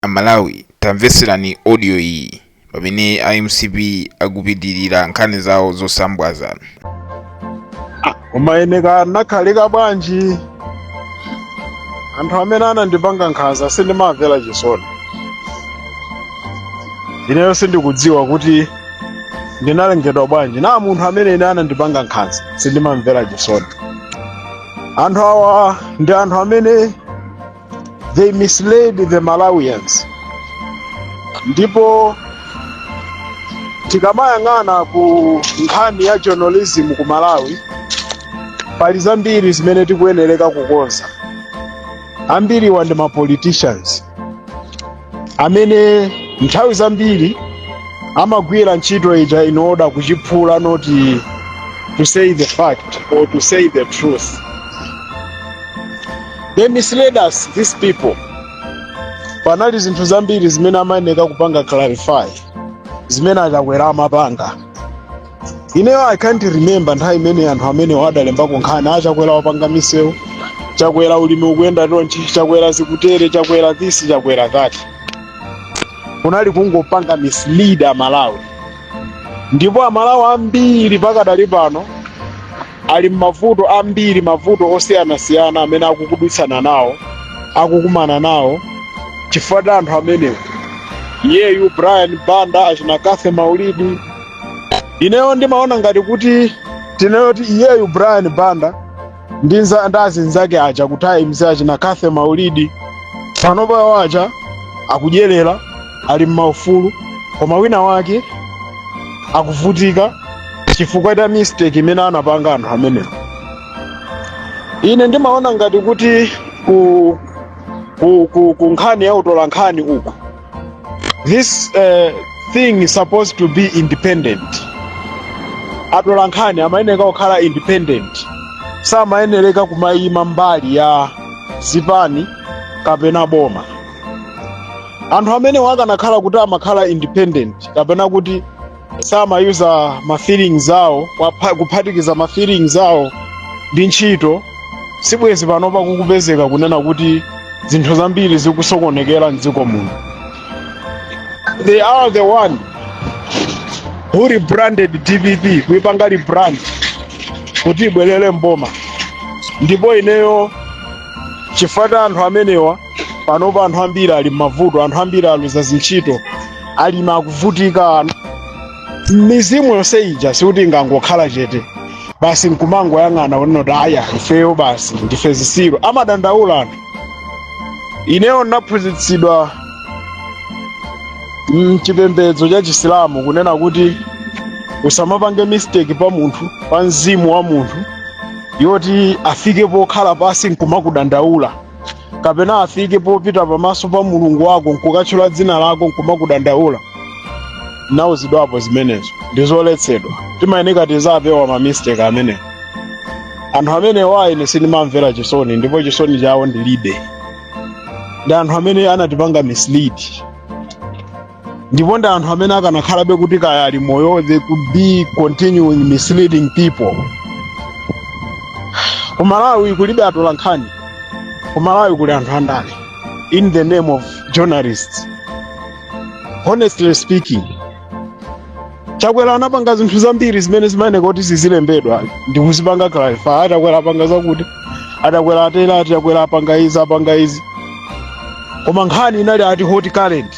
Amalawi tamvetserani audio iyi pamene a mcp akupitirira nkhani zawo zosambwaza koma ine kaya ndinakhalika bwanji anthu amene anandipanga nkhanza sindimamvera chisoni ineyo sindikudziwa kuti ndinalengedwa bwanji na munthu amene ine anandipanga nkhanza sindimamvera chisoni anthu awa ndi anthu amene they misled the malawians ndipo tikamayang'ana ku nkhani ya journalism ku malawi pali zambiri zimene tikuyenereka kukonza ambiriwa ndi ma politicians amene nthawi zambiri amagwira ntchito ija in order kuchiphula not to say the fact or to say the truth they misled us these people panali zinthu zambiri zimene amayeneka kupanga clarify zimene achakwera amapanga ineyo i can't remember nthawi imene anthu amenewo adalembako nkhani ya chakwera wapanga misewu chakwera ulimi ukuyenda tonchi chakwera zikutere chakwera this chakwera that kunali kungopanga mislead amalawi ndipo amalawi ambiri pakadali pano ali m'mavuto ambiri mavuto osiyanasiyana amene akukudutsana nawo akukumana nawo chifukwa cha anthu amenewa iyeyu brian banda achina cathy maulidi ineyo ndimaona ngati kuti tinene kuti iyeyu brian banda ndi nza- ndi azinzake aja ku times achina cathy maulidi panopa awo aja akudyerera ali m'maufulu koma wina wake akuvutika chifukwa cha mistake imene anapanga anthu amenewa ine ndimaona ngati kuti ku, ku, ku, ku nkhani ya utolankhani uku this uh, thing is supposed to be independent atolankhani amayeneka kukhala independent samayenereka kumayima mbali ya zipani kapena boma anthu amenewa akanakhala kuti amakhala independent kapena kuti samayuza ma feelings awo wapha- kuphatikiza ma feelings awo ndi ntchito sibwezi panopa pakupezeka kunena kuti zinthu zambiri zikusokonekera mdziko muno they are the one who rebranded dpp kuipanga rebrand kuti ibwerere mboma ndipo ineyo chifukwa cha anthu amenewa panopa anthu ambiri ali m'mavuto anthu ambiri aluza zintchito alimi akuvutika mizimu yonse ija sikuti ingangokhala chete basi nkumangoyang'ana kunena kuti aya ifeyo basi ndife zisiru amadandaula anthu ineyo ndinaphunzitsidwa mchipembedzo cha chisilamu kunena kuti usamapange mistake pa munthu pa mzimu wa munthu woti afike pokhala pansi nkumakudandaula kapena afike popita pamaso pa mulungu wako nkukatchula dzina lako nkumakudandaula nauzidwapo zimenezo ndi zoletsedwa timayeneka tizapewa mamistake amenewo anthu amenewo ayi ine sindimamvera chisoni ndipo chisoni chawo ndilibe ndi anthu amene anatipanga mislead ndipo ndi anthu amene akanakhalabe kuti kaya ali moyo they could be continuing misleading people ku malawi kulibe atolankhani ku malawi kuli anthu andale in the name of journalists honestly speaking chakwera anapanga zinthu zambiri zimene zimayenera kuti zizilembedwa ndi kuzipanga clarify achakwera apanga zakuti achakwera atere achakwera apanga izi apanga izi koma nkhani inali ati hot current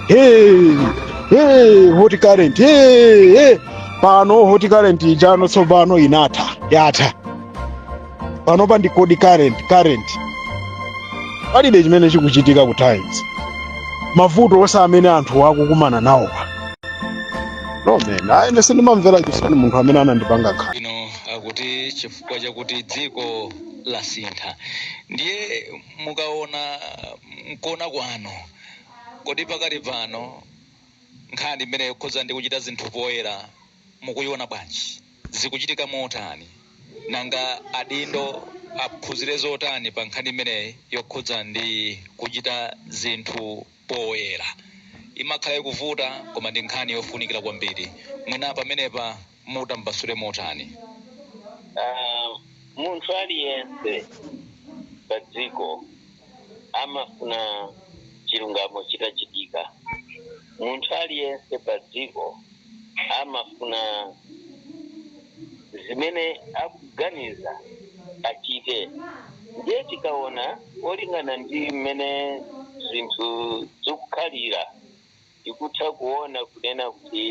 hey, hey, hot current hey, hey. pano hot current ijano tsopano inatha yatha panopa ndi cold current current palibe chimene chikuchitika ku times mavuto onse amene anthu akukumana nawo pano mene ine sindimamvera chisoni munthu amene anandipanga nkhawa ino akuti chifukwa chakuti dziko lasintha ndiye mukaona nkuona kwanu kodi pakali pano nkhani imene yokhuza ndi kuchita zinthu poyera mukuyiona bwanji? Zikuchitika motani? Nanga adindo aphunzire zotani pa nkhani imeneyi yokhudza ndi kuchita zinthu poyera? Imakhala ikuvuta koma ndi nkhani yofunikira kwambiri. Mwina pamenepa mutambasule motani? Munthu aliyense padziko amafuna chilungamo chitachitika. Munthu aliyense padziko amafuna zimene akuganiza achite. Ndiye tikaona kolingana ndi mmene zinthu zikukhalira, tikutha kuona kunena kuti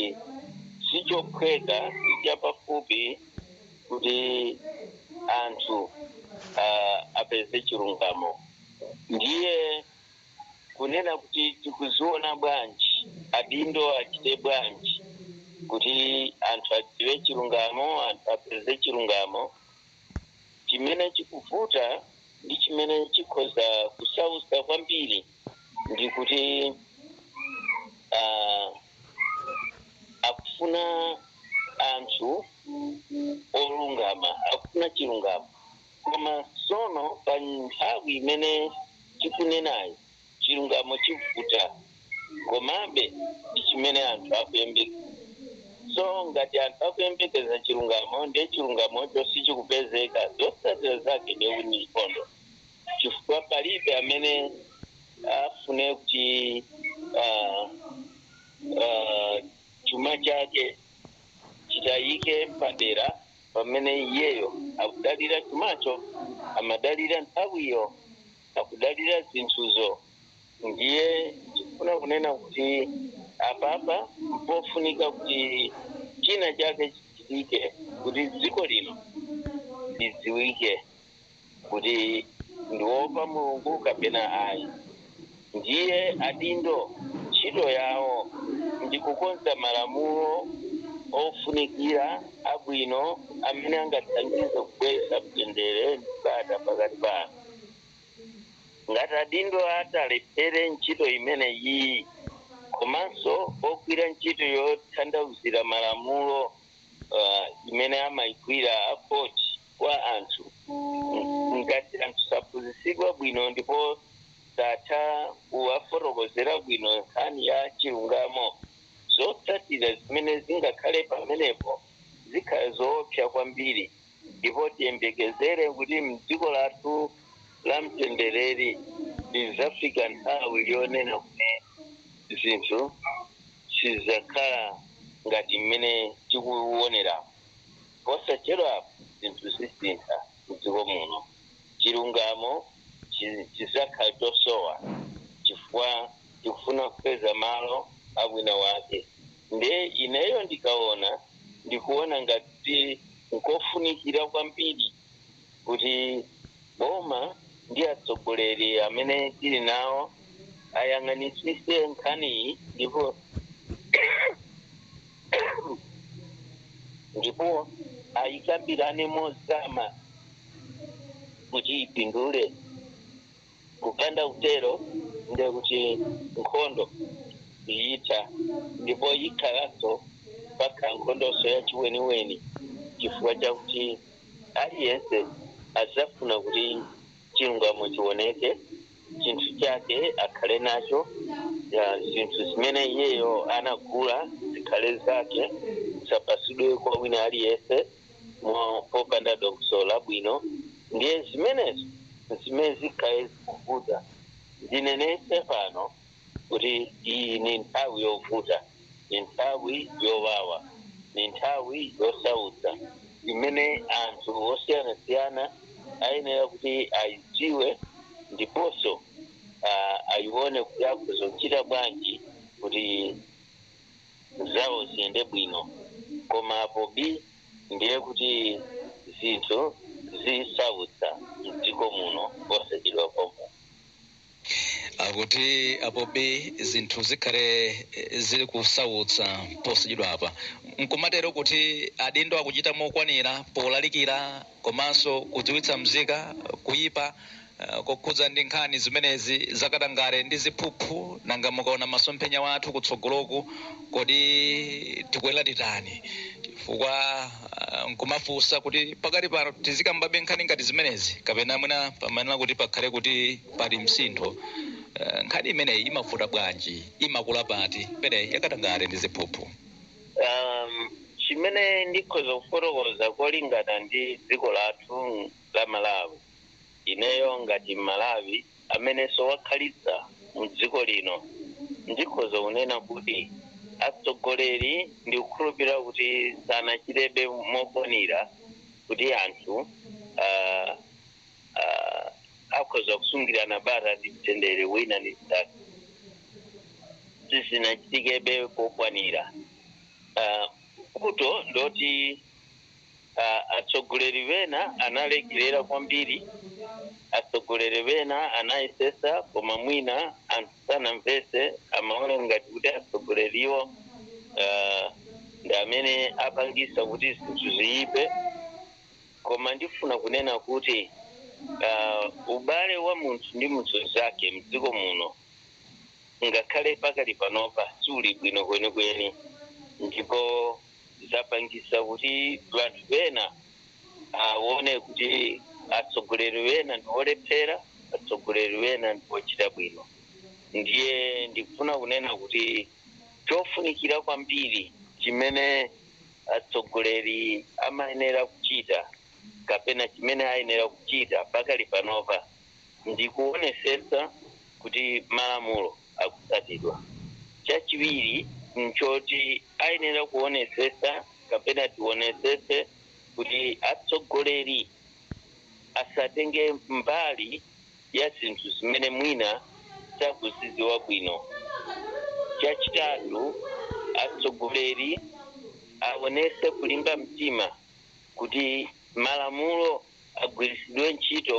sichophweka, sichapafupi kuti anthu apeze chilungamo. Ndiye kunena kuti tikuziona bwanji, adindo achite bwanji kuti anthu adziwe chilungamo, anthu apeze chilungamo. Chimene chikuvuta ndi chimene chikhoza kusausa kwambiri ndi kuti ah, akufuna anthu olungama, akufuna chilungamo. Koma tsono pa nthawi imene tikunenayo, chilungamo chivuta. Komabe ndi chimene anthu akuyembekeza. So ngati anthu akuyembekeza chilungamo ndiye chilungamocho sichikupezeka, zotsatira zake ndiye kuti ndi nkhondo, chifukwa palibe amene afune kuti ah, ah, chuma chake chitayike padera pamene iyeyo akudalira chumacho, amadalira nthawiyo, akudalira zinthuzo, ndiye ndikufuna kunena kuti apapa mpofunika kuti china chake chichitike kuti dziko lino lidziwike. kuti ndiwopa mulungu kapena ayi ndiye adindo ntchito yawo ndi kukonza malamulo ofunikira abwino amene angathandize kubweretsa mtendere ndi bata pakati pa anthu ngati adindo atalephere ntchito imene iyi komanso ogwira ntchito yotanthauzira malamulo uh, imene amaigwira a court kwa anthu ng- ngati anthu saphunzitsidwa bwino ndipo satha kuwafotokozera bwino nkhani ya chilungamo zotsatira zimene zingakhale pamenepo zikhala zoopsa kwambiri ndipo tiyembekezere kuti mdziko lathu la mtendereri lizafika nthawi yonena kuti zinthu sizakhala ngati mmene tikuwonera Posachedwapa zinthu zisintha mdziko muno. Chilungamo chidzakhala chosowa chifukwa tikufuna kupeza malo a wina wake nde ineyo ndikaona ndikuona ngati nkofunikira kwambiri. kuti boma ndi atsogoleri amene tili nawo ayang'anitsise nkhaniyi ndipo ndipo ayikambirane mozama kuti ipindule kupanda utero ndiye kuti nkhondo siyitha ndipo yikhalanso mpaka nkhondonso yachiweniweni chifukwa chakuti Aliyense adzafuna kuti chilungamo chiwoneke, chinthu chake akhale nacho, zinthu zimene iyeyo anagula zikhale zake, zisapasidwe kwa wina aliyense popanda dongosolo labwino. Ndiye zimenezo nzimene zikhale zikuvutitsa. Ndinenetse pano. kuti iyi ni nthawi yovuta, ni nthawi yowawa, ni nthawi yosautsa imene anthu osiyanasiyana ayenera kuti ayidziwe ndiponso ah, ayione kuti akhoza kuchita bwanji kuti zawo ziyende bwino koma apobi ndiye kuti zinthu zisautsa mdziko muno posachedwa pompa Akuti apo bi zinthu zikhale eh, zili kusautsa posachedwapa, nkumatero kuti adindo akuchita mokwanira polalikira komanso kudziwitsa mzika kuyipa eh, kokhudza ndi nkhani zimenezi zakatangale ndi ziphuphu. Nanga mukaona masomphenya wathu kutsogoloku Kodi tikuyenera titani? Chifukwa ah, nkumafunsa kuti pakati pano tizikambabe nkhani ngati zimenezi kapena mwina pamayenera kuti pakhale kuti pali msintho. Eh, Nkhani imeneyi imavuta bwanji, imakula pati imeneyi yakatangale ndi ziphuphu. um, chimene ndikhoza kufotokoza kolingana ndi dziko lathu la malawi ineyo ngati Mmalawi amenenso wakhalitsa mu dziko lino, ndikhoza kunena kuti atsogoleri ndikukhulupirira kuti sanachitebe mokwanira kuti anthu ah, ah, akhoza kusungirana bata ndi mtendere wina ndi mnzake sizinachitikebe kokwanira Ah, nkutheka kuti a, atsogoleri wena analekerera kwambiri atsogoleri wena anayesesa koma mwina anthu sanamvetse amaona ngati kuti atsogoleriwo uh, ndi amene apangisa kuti zinthu ziyipe koma ndifuna kunena kuti uh, ubale wa munthu ndi munthu mnzake mdziko muno ngakhale pakali panopa suli bwino kwenikweni ndipo zapangisa kuti anthu ena awone kuti atsogoleri wena ndiwolephera atsogoleri wena ndiwochita bwino ndiye ndikufuna kunena kuti chofunikira kwambiri chimene atsogoleri amayenera kuchita kapena chimene ayenera kuchita pakali panopa ndikuonesesa kuti malamulo akutsatidwa. Chachiwiri n'choti ayenera kuonetsetsa kapena tionetsetse kuti atsogoleri asatenge mbali ya zinthu zimene mwina sakuzidziwa bwino. Chachitatu, atsogoleri aonetse kulimba mtima kuti malamulo agwiritsidwe ntchito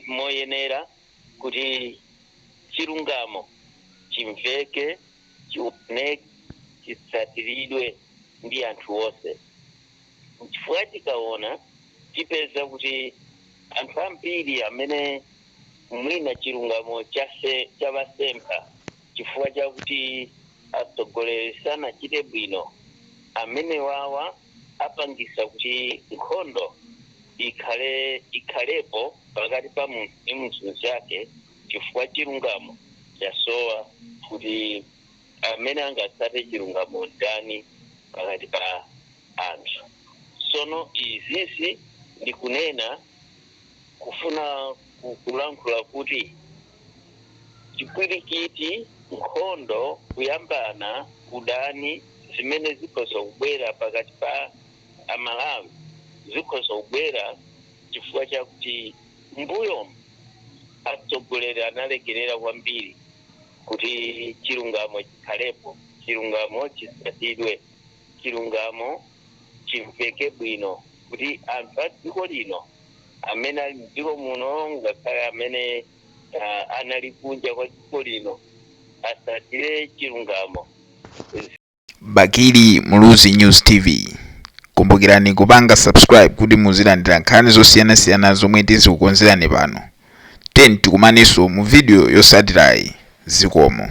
moyenera. kuti chilungamo chimveke, chioneke, chitsatiridwe ndi anthu onse. Chifukwa tikaona tipeza kuti anthu ambiri amene mwina chilungamo chavasempha chifukwa chakuti atsogoleri sanachite bwino, amenewawa. apangisa kuti nkhondo ikhale ikhalepo pakati pa munthu ndi munthu mzake chifukwa chilungamo chasowa kuti amene angatsate chilungamo ndani pakati pa anthu sono izizi ndikunena kufuna kulankhula kuti chipwirikiti, nkhondo, kuyambana, udani zimene zikhoza kubwera pakati pa Amalawi zikhoza kubwera chifukwa chakuti mbuyomu atsogoleri analekerera kwambiri kuti chilungamo chikhalepo, chilungamo chisatidwe, chilungamo chimveke bwino kuti anthu a dziko lino amene ali m'dziko muno ngakhale amene uh, anali kunja kwa dziko lino asatire chilungamo Bakili Muluzi News TV. Kumbukirani kupanga subscribe kuti muzilandira nkhani zosiyanasiyana zomwe tizikukonzerani pano. Tiyeni tikumanenso mu video yosatirayi zikomo.